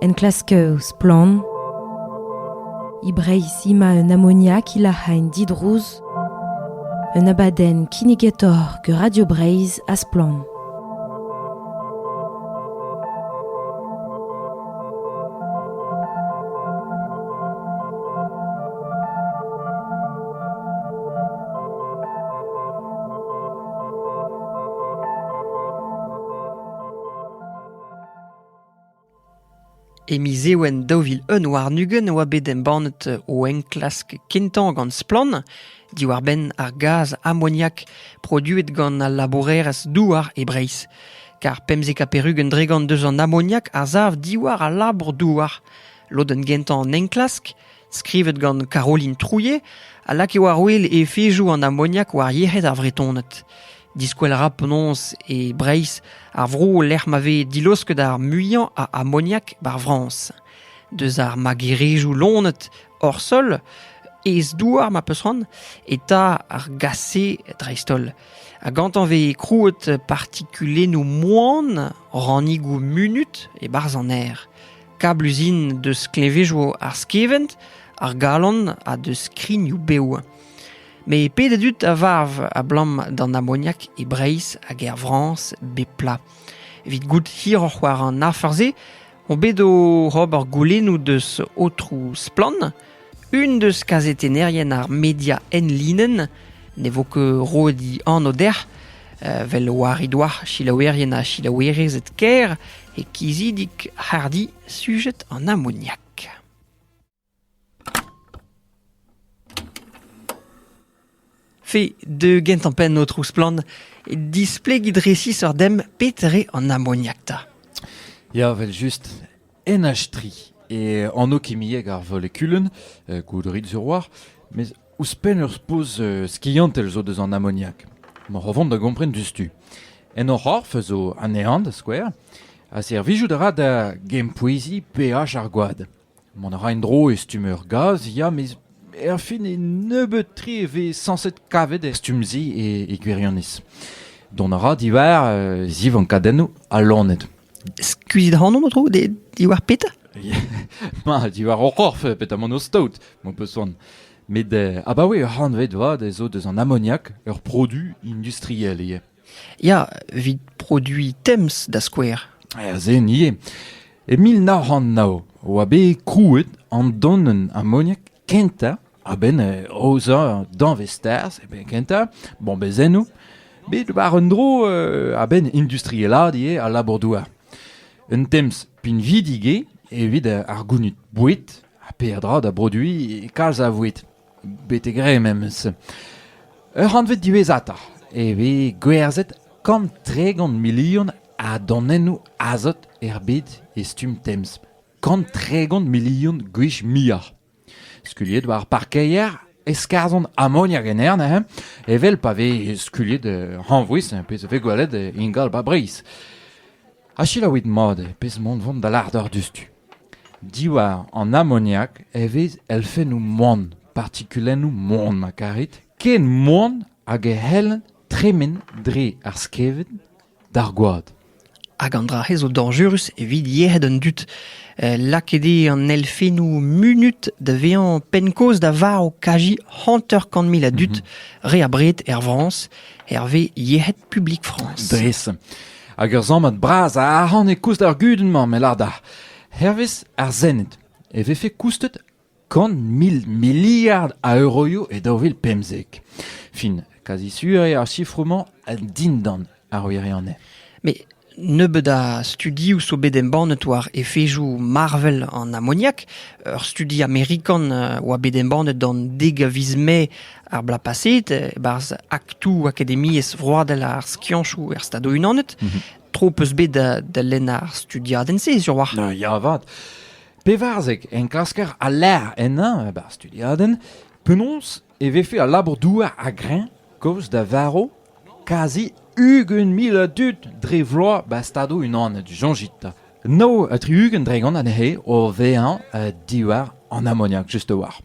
Enklask ouzh splann e Breizh ima un amoniak ilac'h en didrouz un abadenn kinnigetoc'h gant Radio Breizh ha Splann. E miz Ewen daou vil un warn-ugent e oa bet embannet o enklask kentañ gant Splann diwar-benn ar gaz amoniak produet gant al labourerezh douar e Breizh. Kar pemzek ha perugent dregant deus an amoniak a sav diwar al labour-douar. Lodenn gentañ an enklask, skrivet gant Caroline Trouillet, a lakae war-wel efezoù an amoniak war yec'hed ar Vretoned. Diskwel a ra penaos e Breizh ar vro lec'h ma vez dilaosket ar muiañ a amoniak bar Frañs. Deus ar magerezioù lonet hor sol, ez-douar ma peus c'hoant, eta ar gase dreist-holl. Ha gantañ vez krouet partikulennoù moan, rannigoù munut e-barzh an aer. Kabluzin deus klevezioù ar skevent, ar galon ha deus skrignoù bev. Met pet a dud a varv abalamour d'an amoniak e Breizh hag er Frañs bep pla. Evit goût hiroc'h war an afer-se, on bet oc'h ober goulennoù deus aotroù Splann! Unan eus kazetennerien ar media enlinenn ne vo ket roet he anv dec'h, vel war he doa selaouerien ha selaouerezed kêr e kizidik hardi sujed an amoniak. Fe, deuet gentañ-penn, aotrou Splann, displegit resisoc'h demp pet re an amoniakta. Ya, vel-just, NH3 eo anv kimiek ar volekulenn, uh, goudrit sur war, mes ouzhpenn ur poz uh, skiantel zo deus an amoniak. Moc'h o vont da gompren diouzhtu. En o c'horf zo anezhañ, da skouer, ha servijout a ra da gempoueziñ pH ar gwad. Mont a ra en-dro e stumm ur gaz ya met erfin e nebeut-tre e vez sañset kavet er stumm-se e, e gwirionez. Dont a ra diwar uh, zivankadennoù ha loened. Skuizit ac'hanomp, aotrou, de, diwar petra Ma, diwar o c'horf, petamant o staot, m'ho peus soan. Met uh, abaoe ur c'hantved vat ez zo deus an amoniak ur produ industriel ivez. Ya, evit produiñ Thames da skouer. Azen ivez. E mil nav c'hant nav e oa bet krouet an donenn amoniak kentañ a-benn aozañ danvez-tarzh, e benn kentañ, bombezennoù, bet war un dro a-benn industrielaat ivez al labour-douar. Un Thames pinvidik eo evit ar gounid boued ha peadra da broduiñ kalz a voued. Betek re memes. Ur c'hantved diwezhatoc'h e vez gwerzhet kant tregont milion a danennoù azot er bed e stumm temz. Kant tregont milion gwech muioc'h. Skuliet war parkeier e skarzhont amoniak en aer neuze, evel pa vez skuliet hañvouez, pezh a vez gwelet ingal 'ba Breizh. Ha selaouit mat eo pezh mont vont da lâret diouzhtu. Diwar an amoniak e vez elfennoù moan, partikulennoù moan ma karit, ken moan hag e c'hellent tremen dre ar skevent d'ar gwad. Hag an dra-se zo dañjerus evit yec'hed an dud. Eh, lakaet eo an elfennoù munut da vezañ penn-kaoz da varv kaji hanter-kant mil a dud, re abred er Frañs, hervez Yec'hed publik France. Dres. hag ur sammad bras a arc'hant e koust ar gudenn-mañ me lâr-dac'h hervez ar Sened e vefe koustet kant mil miliard a euroioù e daou vil pemzek. Fin, kazi sur eo ar sifroù-mañ dindan ar wirionez. Mais nebeut a studioù zo bet embannet war efezoù Marvel an amoniak. Ur studi amerikan a oa bet embannet an dek a viz Mae Ar Blapasit, e-barzh aktoù akademiezh vroadel ar skianchoù er Stadoù-Unanet, tro 'peus bet da, da lenn ar studiadenn-se, sur-walc'h. Ah, ya avat. Pevarzek enklasker a lec'h ennañ e bar studiadenn. Penaos e vefe al labour-douar a-greñv kozh da varv kazi ugent mil a dud dre vloaz 'ba Stadoù-Unanet, soñjit 'ta. Nav ha tri-ugent dregont anezhe o vezañ uh, diwar an amoniak, just a-walc'h.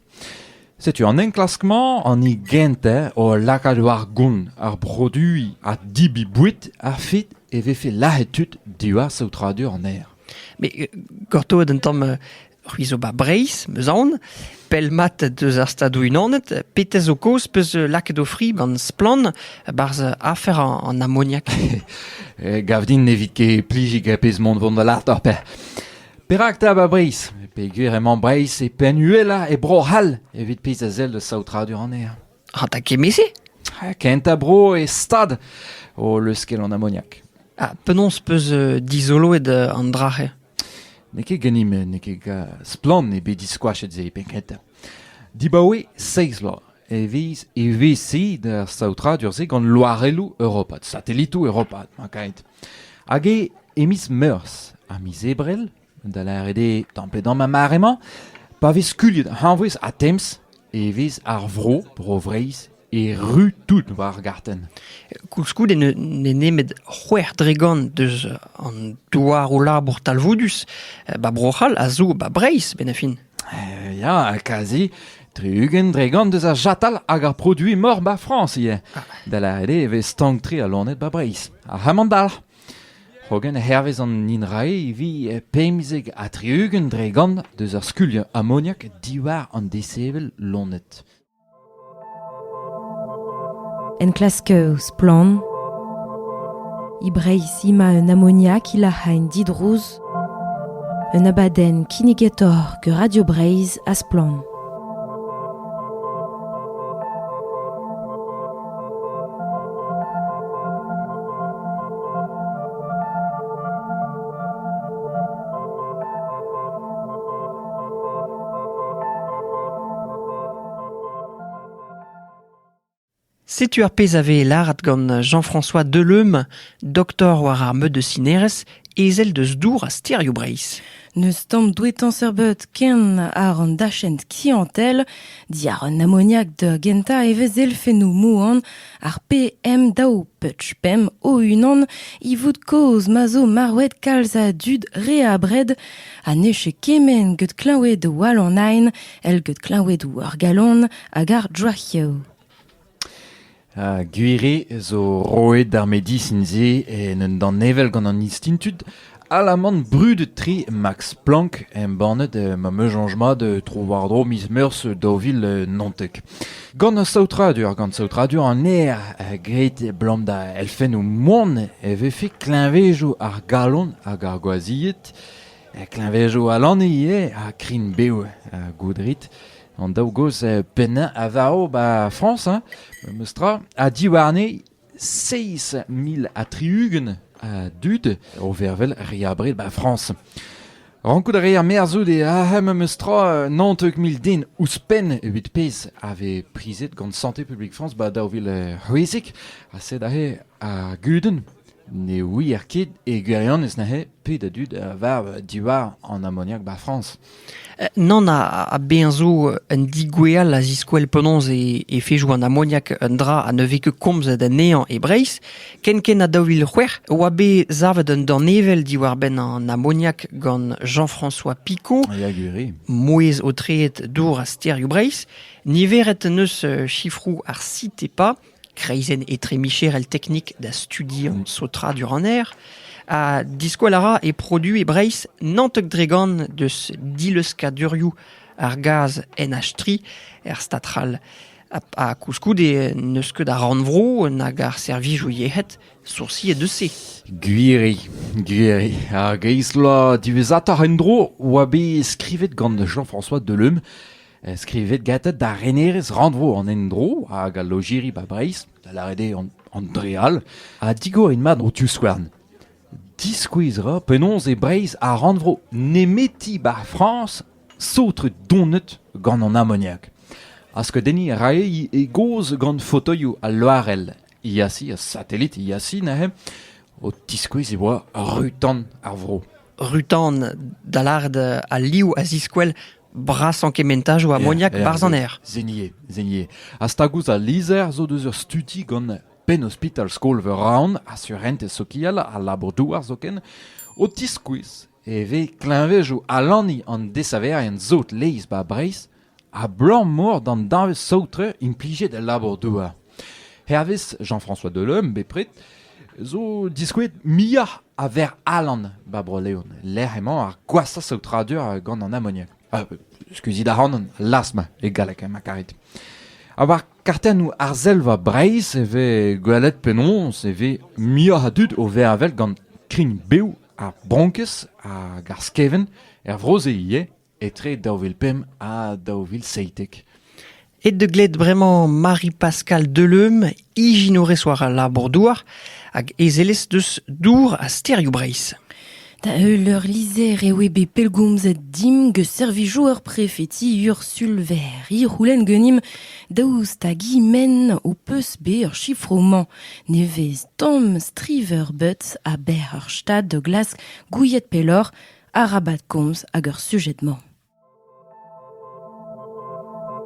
Setu an enklask-mañ an hini gentañ o lakaat war gont ar produiñ ha debriñ boued a-fet e vefe lazhet tud diwar saotradur an aer. Mais euh, gortoet un tamm euh, c'hwi zo ba Breizh, meus aon, pell mat deus ar Stadoù-Unanet, petez zo kaoz peus euh, lakaet o fri gant splann barzh afer an, an amoniak. E, gav din ne vit ket plijiñ er pezh mont vont da lart ar pec'h. Perak 'ta 'ba Breizh ? Peogwir emañ Breizh e penn uhelañ e Bro-C'hall evit pezh a sell da saotradur anezhañ. Ha da kement-se Ha kentañ bro e stad o leuskel an amoniak. Ah, penaos 'peus euh, dizoloet euh, an dra-se N'eo ket ganimp, n'eo ket ga- splann eo bet diskoachet se penn-kentañ. Dibaoe seizh bloaz e vez evezhiet ar saotradur-se gant loarelloù europat, satelitoù europat, mañ kaet. Hag eo e miz Meurzh ha miz Ebrel, da lâret eo tamm pe damm ar mare-mañ, pa vez skuilhet hañvouez ha temz e vez ar vro, Bro-Vreizh, erru tout war ar gartenn. Koulskoude n'eo nemet c'hwec'h dregont deus an douaroù-labour talvoudus, ba Bro-C'hall a zo ba Breizh, benn a fin. Ya, kazi, tri-ugent dregont eus ar chatal hag ar produiñ mor ba Frañs ivez. Da lâret eo e vez stank-tre al loened ba Breizh. Ar c'hamandalc'h. Hogen hervez an INRAE e vi pemzek ha tri-ugent dregont deus ar skuliañ amoniak diwar an desevel loened. Enklask Splann! E Breizh emañ un amoniak ilac'hañ didrouz un abadenn kinnigator gant Radio Breizh ha Splann! Setu ar pezh a vez lâret gant Jean-François Deleum, doktor war ar meud de Cineres, ezel deus dour ha stêrioù Breizh. N'eus tamm douetañ serbet ken àr an dachent kiantel. Diàr an amoniak da gentañ e vez elfennoù moan Ar PM-daou Putsch Pemp o-unan ivoud kaoz ma zo marvet kalz a dud re abred ha ne c'hell kement get klañvoudoù all an aen èl get klañvoudoù ar galon hag ar droaioù. Ha gwir eo zo roet ar medisin-se en un danevell gant an Institut Alaman brudet-tre Max Planck embannet ma meuzanj mat tro-war-dro miz Meurzh daou vil naontek. Gant saotradur, gant saotradur an aer graet abalamour da elfennoù moan e vefe kleñvezoù ar galon hag ar gwazhied, kleñvezoù al lane ivez ha krign-bev goudrit. An daou gozh pennañ a varv 'ba Frañs, memes tra, ha diwarne seizh mil ha tri-ugent a dud o vervel re abred 'ba Frañs. Rankout a reer merzout e arc'hem memes tra naontek mil den ouzhpenn evit pezh a vez prizet gant Santé publique France 'ba daou vil c'hwezek ha sed aze ar gudenn ne ouier ket e gwirionez neuze pet a dud a varv diwar an amoniak 'ba Frañs. Nann, ha bezañ zo un digweall a ziskouell penaos e fejo an amoniak un dra ha ne vez ket komzet anezhañ e Breizh. Kenkent ha daou vil c'hwec'h e oa bet savet un danevell diwar-benn an amoniak gant Jean-François Picot, ya gwir. mouezh aotreet dour ha stêrioù Breizh. Niveret en deus chifroù ar CITEPA Kreizenn etremicherel teknik da studiañ saotradur an aer ha diskoall a ra e produoù e Breizh Nantek-Dregan deus dileuzkadurioù ar gaz NH3 er stad c'hall. Ha koulskoude n'eus ket ar rannvro nag ar servijoù yec'hed soursiet eus se. Gwiri, gwiri. Ar greiz-bloaz diwezhatoc'h en-dro oa bet skrivet gant Jean-François Deleume Skrivet gantañ da renerez rannvro an endro hag al lojeri 'ba Breizh, da lâret eo an dre all, ha digor int mat ho divskouarn. Diskouez 'ra penaos e Breizh ar rannvro nemeti 'ba Frañs saotret donet gant an amoniak. Ha skeudenniñ a rae e gaoz gant fotoioù al loarell Iași, ar satelit Iași neuze, o tiskouez e oa ru-tan ar vro. Rutan, da lâret al liv a ziskouel brasañ kementajoù amoniak yeah, 'barzh an aer. Zenier, Zenier. Ha stag ouzh al lizher zo deus ur studi gant Penn-ospital skol-veur Raon ha surentez sokial al labour-douar zoken, o tiskouez e vez kleñvejoù alaniñ an desaverien sot laezh 'ba Breizh Abalamour d'an danvez saotre implijet el labour-douar, hervez Jean-François Delhomme bepred, zo diskouez muioc'h a ver alan 'ba Bro-Leon, lec'h emañ ar gwashañ saotradur gant an amoniak. Uh, skuizhit ac'hanon, las-ma e galleg emañ karet. Ha war kartennoù arzelva Breizh e vez gwelet penaos e vez muioc'h a dud o vervel gant krign bev ar bronkez hag ar skevent er vro-se ivez. etre daou vil pemp ha daou vil seitek. Aet da gled bremañ Marie-Pascale Deleum, ijinourez war al labour-douar hag ezelez deus Dour ha Stêrioù Breizh. Da heul ur lizher e oe bet pellgomzet dimp gant servijoù ur prefeti Ursul Verri c'houlenn ganimp daoust hag men o peus bet ur chifro-mañ nevez Tom Striverbutz a-benn ur stad da glask gouiet pelloc'h arabat komz ag ar sujed-mañ.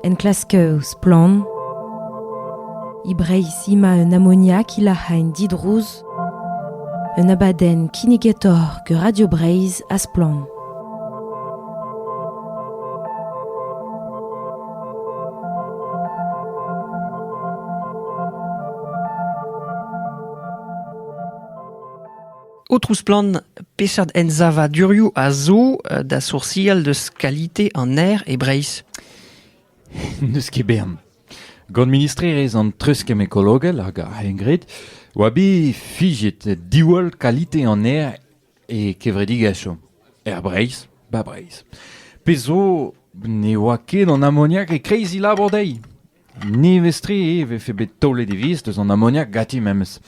Enklask Splann e Breizh ima un amoniak ilac'h en didrouz un abadenn kinnigetoc'h ger Radio Breizh ha Splann. Aotrou Splann, peseurt ensavadurioù a zo da soursial deus kalite an aer e Breizh ? N'eus ket bern. Gant ministrerezh an treuzkemm ekologel hag ar c'hengred oa bet fiziet diwall kalite an aer e kevredigezhioù er Breizh, 'ba Breizh. Pezh zo ne oa ket an amoniak e-kreiz he labour dezhi. Nevez-tre e vefe bet taolet e viz deus an amoniak ganti memes.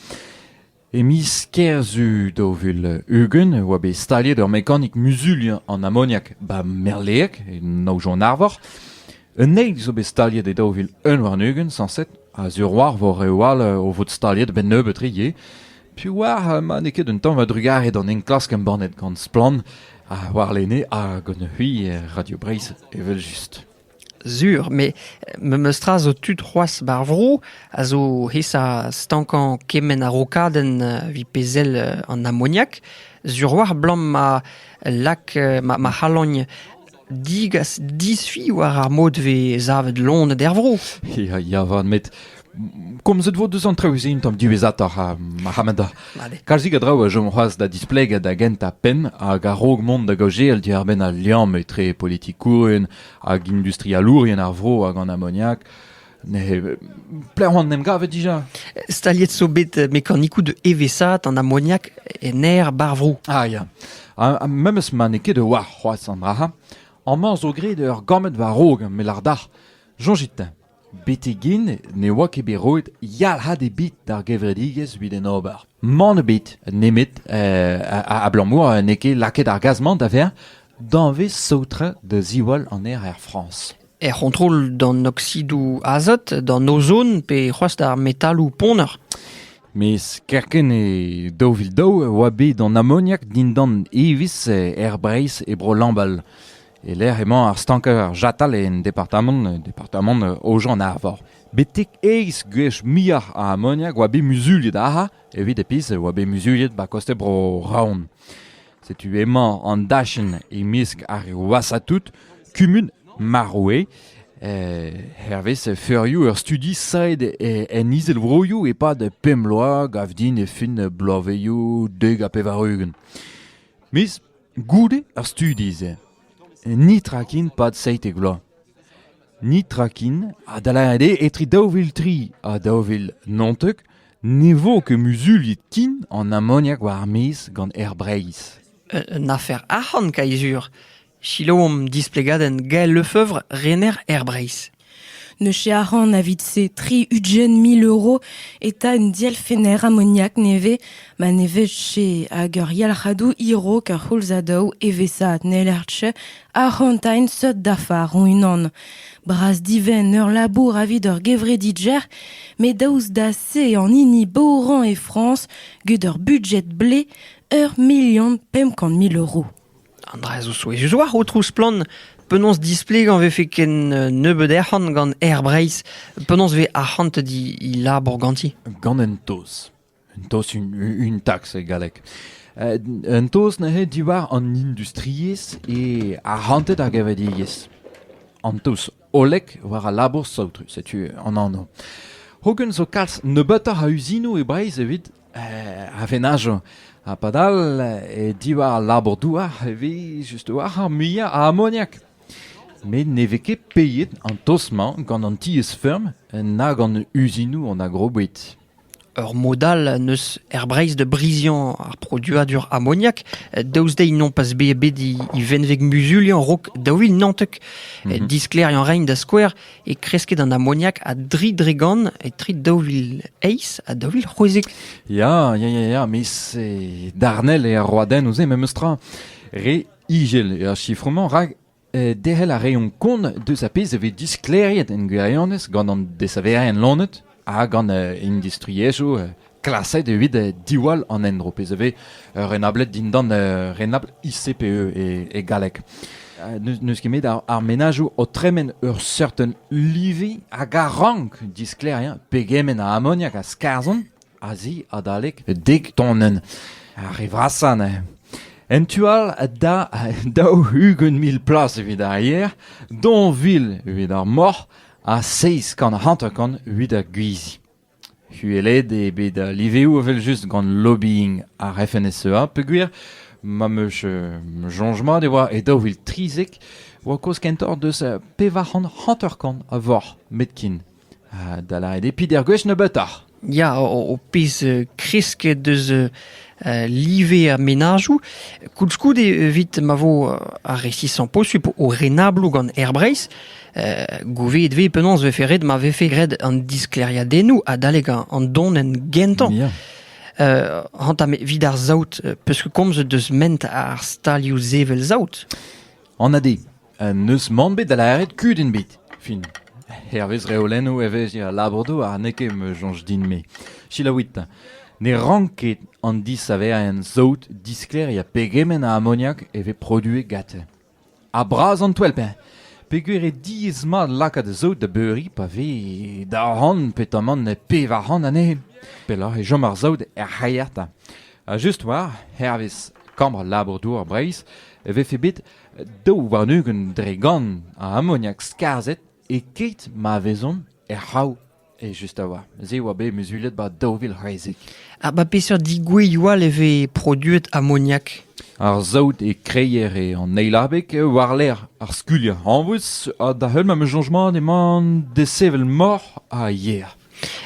E miz Kerzu daou vil ugent e oa bet staliet ur mekanik muzuliañ an amoniak 'ba Merleeg, e Naojon Arvor. Un eil zo bet staliet e daou vil un warn-ugent sañset, a-zur war vor reoù all o vot staliet 'benn nebeut re ivez. Piv oar ma n'eo ket un tamm a-drugarez d'an enklask embannet gant Splann ha warlene ha gant c'hwi Radio Breizh evel-just. Sur, met memes tra zo tud c'hoazh ba'r vro a zo aesañ stankañ kement a-rokadenn evit pezh sell an amoniak. Sur a-walc'h abalamour ma lak ma ma c'halogn digas disfi war ar mod 'vez savet loened er vro. Ya, ya 'vat met komzet vo deus an traoù-se un tamm diwezhatoc'h ha Mohamed kalzik a draoù a chom c'hoazh da displegañ da gentañ penn hag a-raok mont da gaozeal diàr-benn al liamm etre politikourien hag industrialourien ar vro hag an amoniak Ne, plehon em gavet dija. Staliet zo bet mekanikoù de evesat an amoniak en aer barvro. Ah ya. Ha memes ma n'eo ket de war c'hoazh an dra. Amañ zo graet ur gammet war raok met lardac'h. Soñjit-teñ. Betek-hen ne oa ket bet roet yalc'had ebet d'ar gevredigezh evit en ober. Mann ebet nemet abalamour n'eo ket lakaet ar gaz-mañ da vezañ danvez saotrañ da ziwall an aer er Frañs. Er c'hontrol d'an oksidoù azot, d'an ozon pe c'hoazh d'ar metaloù ponner. Mes kerkent e daou vil daou e oa bet an amoniak dindan evezh er Breizh e Bro Lambal. E-lec'h emañ ar stanker chatal en departamant departamant Aojan-Arvor. Betek eizh gwech muioc'h a amoniak oa bet muzuliet ac'ha evit e pizh oa bet muzuliet 'ba koste bro Raon. Setu emañ an dachenn e-mesk ar Wasatout, kumun Maroue. Eh, hervez feurioù ur studi saet en Izelvroioù e-pad pemp bloaz gav din e fin bloavezioù dek ha pevar-ugent. Miz Goude ar studi-se netra ken 'pad seitek vloaz. Netra ken ha da lâret eo etre daou vil tri ha daou vil naontek ne vo ket muzuliet ken an amoniak war ar maez gant Aer Breizh. Un afer arc'hant, Kaizur. Selaomp displegadenn Gael Lefeuvre, rener Aer Breizh. Ne chearan evit-se tri ugent mil euro eta un dielfenner amoniak nevez ma ne vije hag ur yalc'hadoù hirok a c'houlzadoù evesaat n'hellerche arc'hantaén seurt dafar hon-unan. Bras divenn ur labour evit ur gevredidjer, met daoust da se an hini bourrañ e Frañs gant ur budjet blez ur milion pemp kant mil euro. An dra-se zo souezhus oac'h, Aotrou Splann. Penaos displegañ 'vefe ken nebeut arc'hant gant Aer Breizh? Penaos 'vez arc'hant he labour ganti? Gant un taos. Un taos, un, un tax e galleg. Uh, un taos neuze diwar an industriezh e arc'hanted ar gevredigezh. An taos hollek war al labour saotrus, setu an anv. Hogen zo kalz nebeutoc'h a uzinoù e Breizh evit a venajo. Ha padal, e diwar al labour-douar e vez just war ar muiañ a amoniak. Met ne vez ket peiet an toz-mañ gant an tiez-feurm na gant uzinoù an agroboued. Ur mod all n'eus er Breizh da briziañ ar produadur amoniak, daoust dezhi nompas bet bet e venveg muzuliañ 'raok daou vil naontek. Mhm. Disklêriañ rein da skouer e kresked an amoniak a-dri dre gant etre daou vil eizh ha daou vil c'hwezek. Ya, ya, ya, ya, mais c'est darnel e ar roadenn ouzh memes tra. Re igel er sifromañ, rak eh, derc'hel a reont kont deus a pezh e vez disklêriet en gwirionez gant an desaverien lonet ha gant industriezhioù klaset evit diwall an endro, pezh a vez renablet dindan renabl ICPE e, galleg. N'eus ket met ar, menajoù o tremen ur certain livi hag a rank disklêriañ pegement a amoniak a skarzhont azi adalek dek tonnen ar re vrasañ neuze. En tu all da daou ugent mil plas evit ar yer, donville evit ar moc'h, ha seizh kant hanter-kant evit ar gwizi. Uhelet eo bet al liveoù evel-just gant lobbying ar FNSEA peogwir ma 'm eus uh, soñj mat e oa e daou vil trizek oa kozh kentoc'h deus uh, pevar c'hant hanter-kant a voc'h metkin. Uh, da lâret eo pider gwech nebeutoc'h. Ya, ho pez kresket eus live ar menajoù. Koulskoude, evit ma vo ar resisañ posupl o renabloù gant Air Breizh, gouveet vez penaos vefe ret ma vefe graet an disklêriadennoù adalek an donenn gentañ. Ya. Uh, hanta vid ar saout, peus komzet deus ment ar stalioù sevel saout? An ade, N'eus mann bet da lâret kudenn ebet. Fin. Hervez reolennoù evezhiañ al labour-douar n'eo ket ma soñj din-me. Selaouit. Ne rank ket an disaverien saout, disklêriañ pegement a amoniak e vez produet gante. Ha bras an toell-peñ. Peger eo diaes-mat lakaat saout da beuriñ pa vez daou c'hant petamant pevar c'hant anezhe. Pelloc'h e chom ar saout er c'haiata. Ha just war, hervez kambr labour-douar Breizh, e vefe bet Daou warn-ugent dre gant a amoniak skarzhet e-keit ma vezont er c'hav just a-walc'h. Se a oa bet muzulet 'ba daou vil c'hwezek. Ha 'ba peseurt digouezioù all e vez produet amoniak? Ar saout e kreier eo an eil abeg war-lerc'h ar skulier hañvus ha da-heul ma changement emañ desevel moc'h ha yer.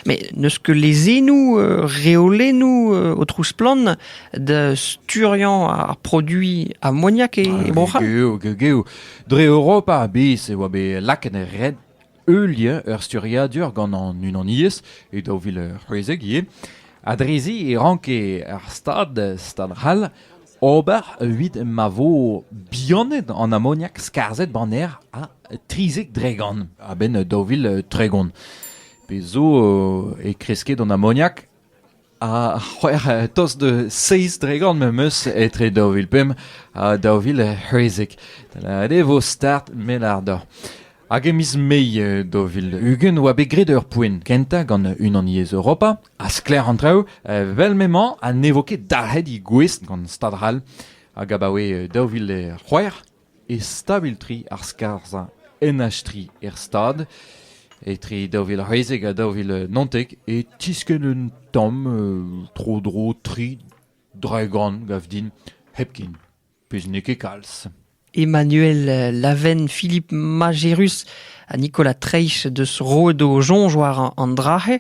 Mais n'eus ket lezennoù, reolennoù, aotrou Splann, da sturiañ ar produiñ amoniak e Bro-C'hall. Geo, geo, geo. Dre Europa a-bezh e oa bet lakaet er red ul lien, ur sturiadur gant an unaniezh e daou vil c'hwezek ivez. Ha drezi e ranke ar Stad, Stad C'hall, Ober evit ma vo bihanet an amoniak skarzhet baner ha trizek dregont a-benn daou vil tregont. Pezh zo e kresked an amoniak ha c'hwec'h tost de seizh dregont me'm eus etre daou vil pemp ha daou vil c'hwezek. Da lâret eo vo start met àr dor. Hag e miz Mae daou vil ugent oa bet graet ur poent kentañ gant Unaniezh Europa ha sklaer an traoù evel m'emañ ha ne vo ket dalc'het he gouest gant Stad C'hall hag abaoe daou vil c'hwec'h e stabil tri ar skarzhañ NH3 er stad etre daou vil c'hwezek ha daou vil naontek e tiskenn un tamm tro-dro tri draegan gav din hepken. Pezh n'eo ket kalz. Emmanuel Laven, Philippe Majerus ha Nicolas Treich deus roet o soñj war an dra-se.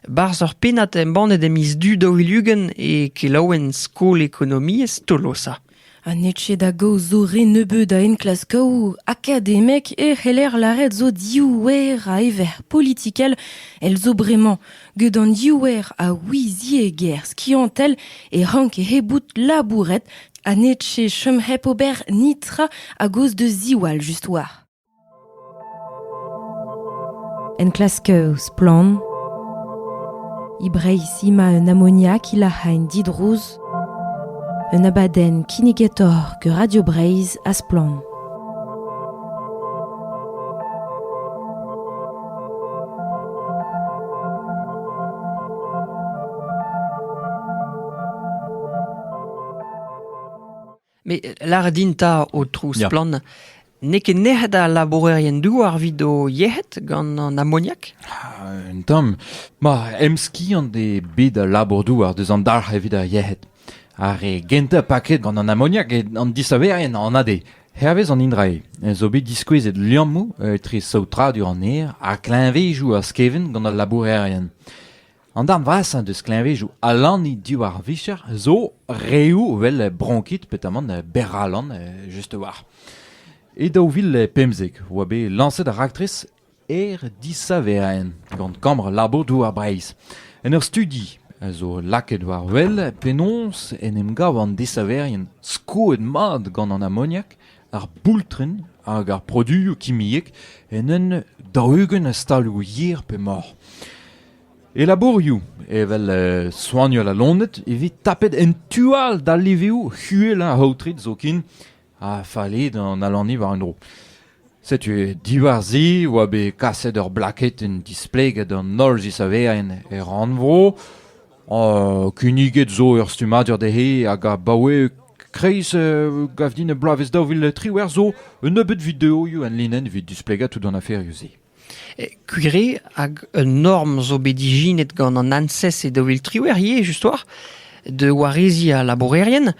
Barzh ur pennad embannet e miz du daou vil ugent e kelaouenn Skol Ekonomiezh Tolosa. Ha n'eo ket da gaoz zo re nebeud a enklaskaoù akademek e c'heller lâret zo div wer a ever politikel. El zo bremañ Gant an diouer a ouiziegezh skiantel e ranke he bout labouret ha n'eche chom hep ober netra a-gozh da ziwall just war. Enklask Splann! E Breizh ima un amoniak ilac'hain didrouz, un abadenn kinnigator ger Radio Breizh ha Splann! Mais lâret din 'ta, Aotrou Splann, n'eo ket nec'het al labourerien-douar evit o yec'hed gant an amoniak? Ah, un tamm. Ma, emskiant eo bet al labour-douar deus an dalc'h evit ar yec'hed. Ar re gentañ paket gant an amoniak eo an disaverien anat eo. Hervez an Indrae zo bet diskouezet liammoù etre saotradur an aer ha kleñvedoù ar skevent gant al labourerien. An darn vrasañ deus kleñvedoù alaniñ diwar vicher zo reoù evel bronkit petamant berralan just war. E daou vil pemzek oa bet lañset ar raktres Eret disaver int gant kambr labour-douar Breizh. En ur studi a zo lakaet war-wel penaos en em gav an desaverien skoet mat gant an amoniak, ar boultren hag ar produioù kimiek en un daou-ugent a stalioù yer pe mor. E labourioù evel uh, soanial ha loened e vez tapet en tu all d'al liveoù uhelañ aotret zoken Ha fallit an alaniñ war un dro. Setu diwar-se oa bet kaset ur blaketenn displeget d'an holl zisaverien er rannvro. Uh, kinniget zo ur stummadur dezhe hag abaoe kreiz uh, gav din bloavezh daou vil triwec'h zo un nebeud videoioù en linenn evit displegañ tout an aferioù-se. Kugre hag un norm zo bet ijinet gant an ANSES e daou vil triwec'h ivez just-war da wareziñ al labourerien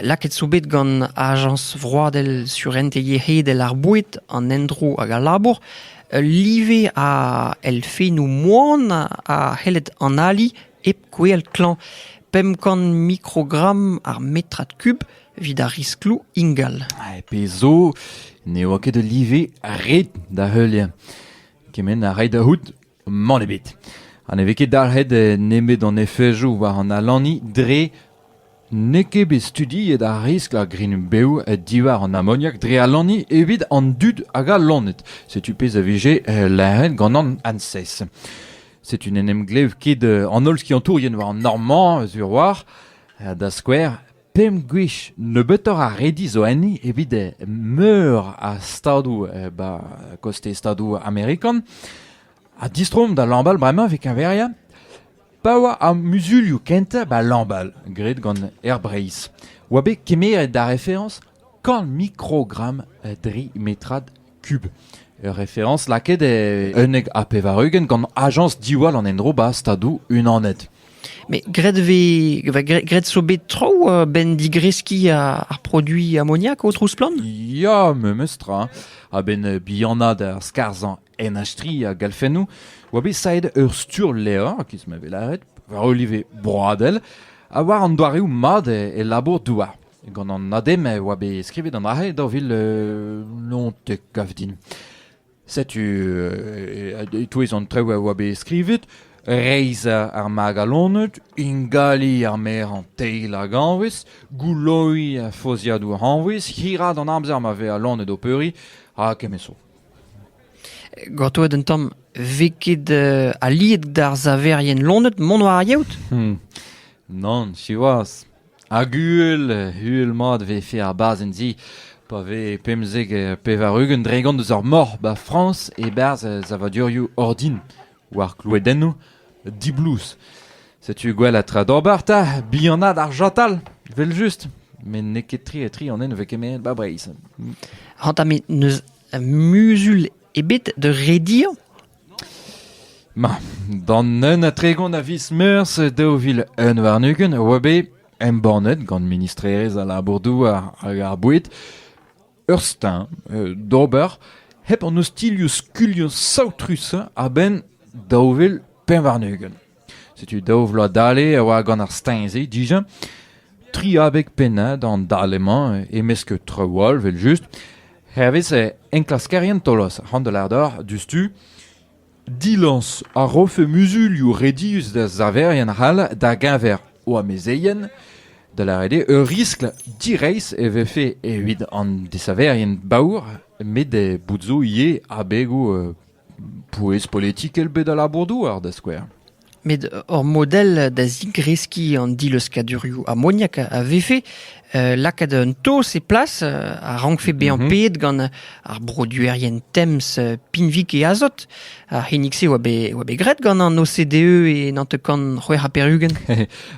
lakaet zo bet gant Ajañs vroadel surentez yec'hedel ar boued, an endro hag al labour ul live a elfennoù moan a c'helled analiñ Hep gwell klañv, pemp kant mikrogramm ar metrad kub evit ar riskloù ingal. Ha pezh zo, ne oa ket ul live ret da heuliañ. Kement a ray da c'hoût, mann ebet. Ha ne vez ket dalc'het nemet an efejoù war an alaniñ dre N'eo ket bet studiet ar riskl a grign-bev diwar an amoniak dre alaniñ evit an dud hag al loened. Setu pezh a vije lâret gant an ANSES. Setu n'en em glev ket an holl skiantourien war an nor-mañ sur-walc'h, da skouer pemp gwech nebeutoc'h a redi zo enni evit meur a stadoù ba kostez stadoù amerikan. Ha distroomp da Lamballe bremañ evit keñveriañ. Pa oa ar muzulioù kentañ 'ba Lambal, graet gant Air Breizh, 'oa bet kemeret da referañs kant mikrogramm dri metrad kub. Ur referañs lakaet e unnek ha pevar-ugent gant ajañs diwall an endro 'ba Stadoù Unanet. Mais graet vez, graet zo bet traoù a-benn digreskiñ ar produiñ amoniak o Trouz-Splann? Ya, memes tra. A-benn bihanaat ar skarzhañ en achtrilh a galfennoù oa bet saet ur sturlevr, a-kiz ma vez lâret, war ul live broadel, ha war an doareoù mat e, e labour-douar. Gant an ADEM e oa bet skrivet an arre daou vil euh, lontek-kav din. Setu, euh, e-touez an traoù a oa bet skrivet, reizh ar magalonet, ingali ar mer an teil hag anvez, gouloiñ a fozhiadoù anvez, hirad an amzer ma vez alonet o peuriñ, ha kemeso. Gortoet un tamm 'vez ket aliet d'ar saverien lonet mont war ar yeot ? Nann, siwazh. Hag uhel, uhel-mat 'vefe ar bazenn-se pa vez pemzek pevar-ugent dregont eus ar mor 'ba Frañs e-barzh savadurioù ordin. war kloadennoù diblouz. Setu gwell ha tra d'ober 'ta, bihanat ar chatal, evel-just. Met n'eo ket tre-tre an ene 'vez kemeret 'ba Breizh. Ranta, met n'eus muzul ebet da rediañ Ma, d'an un ha tregont a viz meurzh daou vil un warn-ugent a oa bet embannet gant ministrerezh al labour-douar hag ar boued ur steuñv d'ober hep an ostilhoù skuilhoù saotrusañ a-benn daou vil pemp warn-ugent. Setu daou vloaz dale e oa gant ar steuñv-se dija. Tri abeg pennad an dale-mañ e-mesk traoù all evel-just. Hervez enklaskerien Tolos, c'hoant da lâret oc'h diouzhtu Dilañs a rofe muzulioù redius da saverien c'hall da-geñver o amezeien, da lâret eo ur riskl direizh e vefe evit an desaverien baour met bout zo ivez abegoù pouez politikel bet a labour-douar da skouer. met ur model da zigreskiñ an dileuskkadurioù amoniak a vefe lakaat un taos e plas a rankfe bezañ peet gant ar broduerien Tems, Pinvik e azot. Ar c'hinnig-se oa bet, oa bet graet gant an OCDE e nantekan c'hwec'h ha pevar-ugent.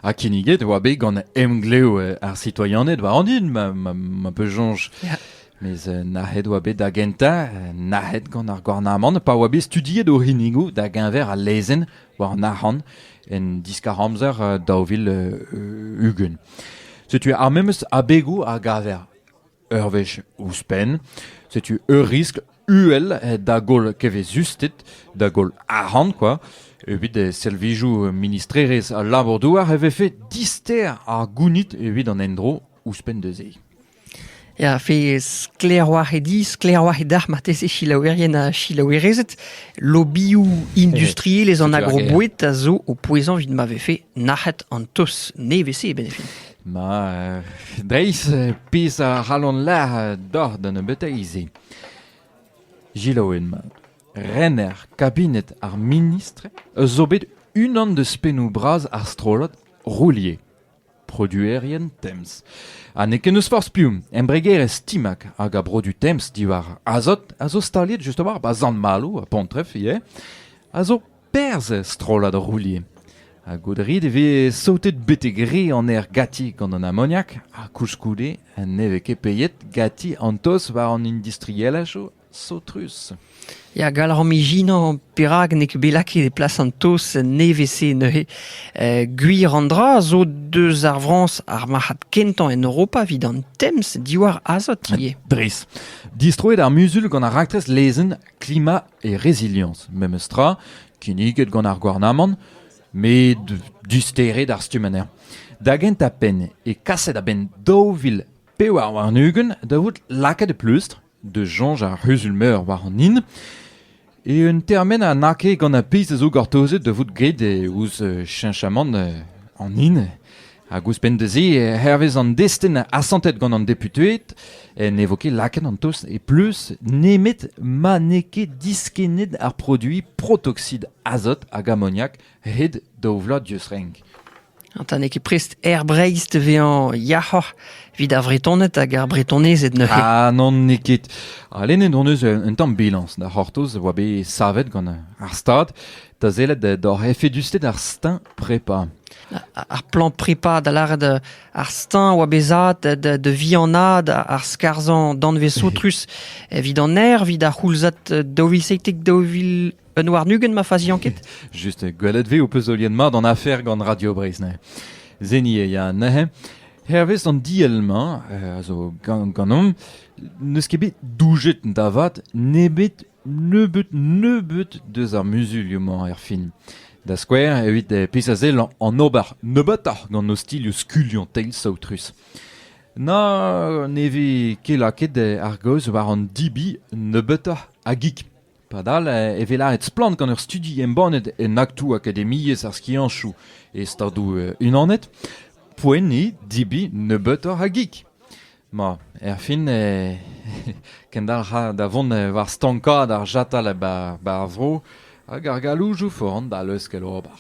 ha kinniget oa bet gant emglev ar citoyened war an din ma, ma, ma peu soñj. Yeah. Mes nac'het oa bet da gentañ, nac'het gant ar gouarnamant pa oa bet studiet o c'hinnigoù da-geñver al lezenn war an arc'hant en diskar-amzer daou vil ugent. Setu ar memes abegoù a gaver ur wech ouzhpenn. Setu ur riskl uhel da goll kevezusted, da goll arc'hant kwa. Evit servijoù ministrerezh al labour-douar e vefe dister ar gounid evit an endro ouzhpenn da se. Ya, fe sklaerwac'h eo dit, sklaerwac'h eo deoc'h marteze selaouerien ha selaouerezed. Lobioù industriel eus an agroboued a zo o pouezañ evit ma vefe nac'het an tos nevez-se e benefin. Ma, dreist pezh a c'hallon lâret doc'h da nebeuteiz-se. Gilaouen mat. Rener kabinet ar ministr eus zo bet unan deus pennoù bras ar strollad Roulier. produerien temz ha n'eo ket n'eus forzh piv embregerezh Timac hag a brodu temz diwar azot a zo staliet just a-walc'h 'ba Sant-Maloù ha Pontreff ivez a zo perzh er strollad roulier ha goudrit e vez saotet betek re an aer gati gant an amoniak ha koulskoude ne vez ket peiet gati an toz war an industrielajoù Saotrus. Ya, gall rom ijinañ perak n'eo ket bet lakaet e plas an taos nevez-se neuze. Eh, gwir an dra zo deus ar Frañs ar marc'had kentañ en Europa evit an temz diwar azot ivez. Dres. Distroet ar muzul gant ar raktres lezenn Klima et Résilience, memes tra, kinniget gant ar gouarnamant, met disteret ar stumm anezhañ. Da gentañ penn e kaset a-benn daou vil pevar warn-ugent da vout lakaet e pleustr da soñj ar c'huzul-meur war an hin eo un termen ha n'añ ket gant ar pezh a zo gortozet da vout graet ouzh cheñchamant an hin hag ouzhpenn da se hervez an destenn asantet gant an deputeed ne vo ket lakaet an tost e pleuz nemet ma n'eo ket diskennet ar produiñ protoxid azot hag amoniak hed daou vloaz dieus renk. Ta n'eo ket prest Aer Breizh da vezañ yac'hoc'h evit ar Vretoned hag ar Bretonezed neuze. Ah non, n'eo ket. Ha lennet hon eus un, un tamm bilañs da c'hortoz a oa bet savet gant ar Stad da sellet d'hor efedusted ar steuñv prepa. Ar plan prepa da lâret euh, ar steuñv oa bezat da, da vihanaat ar skarzhañ danvez soutrus evit an aer, evit ar c'houlzad daou vil seitek daou vil Un warn-ugent ma faziañ ket Just, gwelet ve ho peus olien mat an afer gant Radio Breizh neuze. Zeni e ya neuze. Hervez an diell-mañ, eh, a zo gan- ganeomp, n'eus ket bet doujet da vat nebet nebeut nebeut deus ar muzulioù-mañ er fin. Da skouer, evit eh, pezh a sell an ober nebeutoc'h gant ostilhoù skuliañ teil saotrus. Na ne vez ket lakaet eh, ar gaoz war an dibi nebeutoc'h a gig. Padal e vez lâret splann gant ur studi embannet en aktoù akademiezh ar skianchoù e Stadoù-Unanet poent eo debriñ nebeutoc'h a gig. Ma, erfin e kendalc'ha da vont war stankaat ar chatal ba ar vro hag ar galoujoù foran da leuskel ober.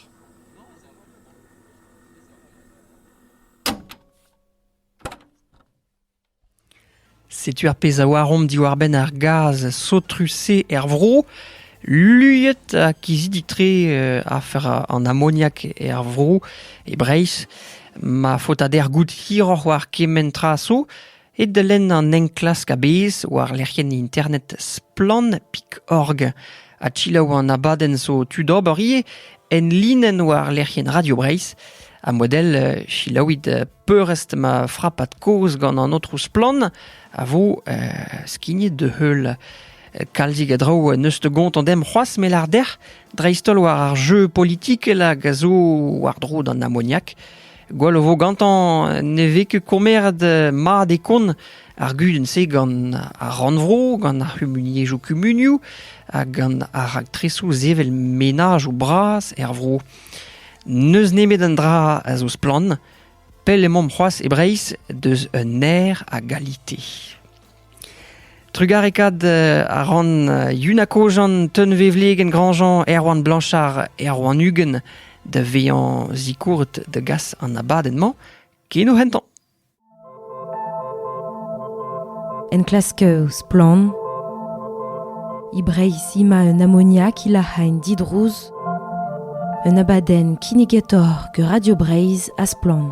Setu ar pezh a oaromp diwar-benn ar gaz saotrus-se er vro. Luiet ha kizidik-tre afer an amoniak er vro, e Breizh. Ma faotader goût hiroc'h war kement tra zo eo da lenn an enklask a-bezh war lec'hienn internet Splann.org. Ha selaou an abadenn zo tu d'ober ivez en linenn war lec'hienn Radio Breizh. Ha model selaouit peurrest ma frapad kozh gant an aotrou Splann a vo skignet da heul. Kalzig a draoù neus te gontañ dem c'hoazh me lar dec'h dreist-holl war ar jeu politikel hag a zo war-dro d'an amoniak. Gwell o vo gantañ ne vez ket kommeret mat e kont ar gudenn-se gant ar rannvro, gant ar c'humuniezhioù kumunioù hag gant ar raktresoù sevel menaj o bras er vro. N'eus nemet un dra a zo splann, pell emaomp c'hoazh e Breizh deus un aer a galite. Trugarekaat a ran Yuna Kojan, Teunvevlegenn Grandjean, Erwan Blanchard, Erwan Uguen da vezañ zikourret da gas an abadenn-mañ ken o hentañ. Enklask Splann! E Breizh emañ un amoniak hilac'hañ didrouz un abadenn kinnigator gant Radio Breizh ha Splann!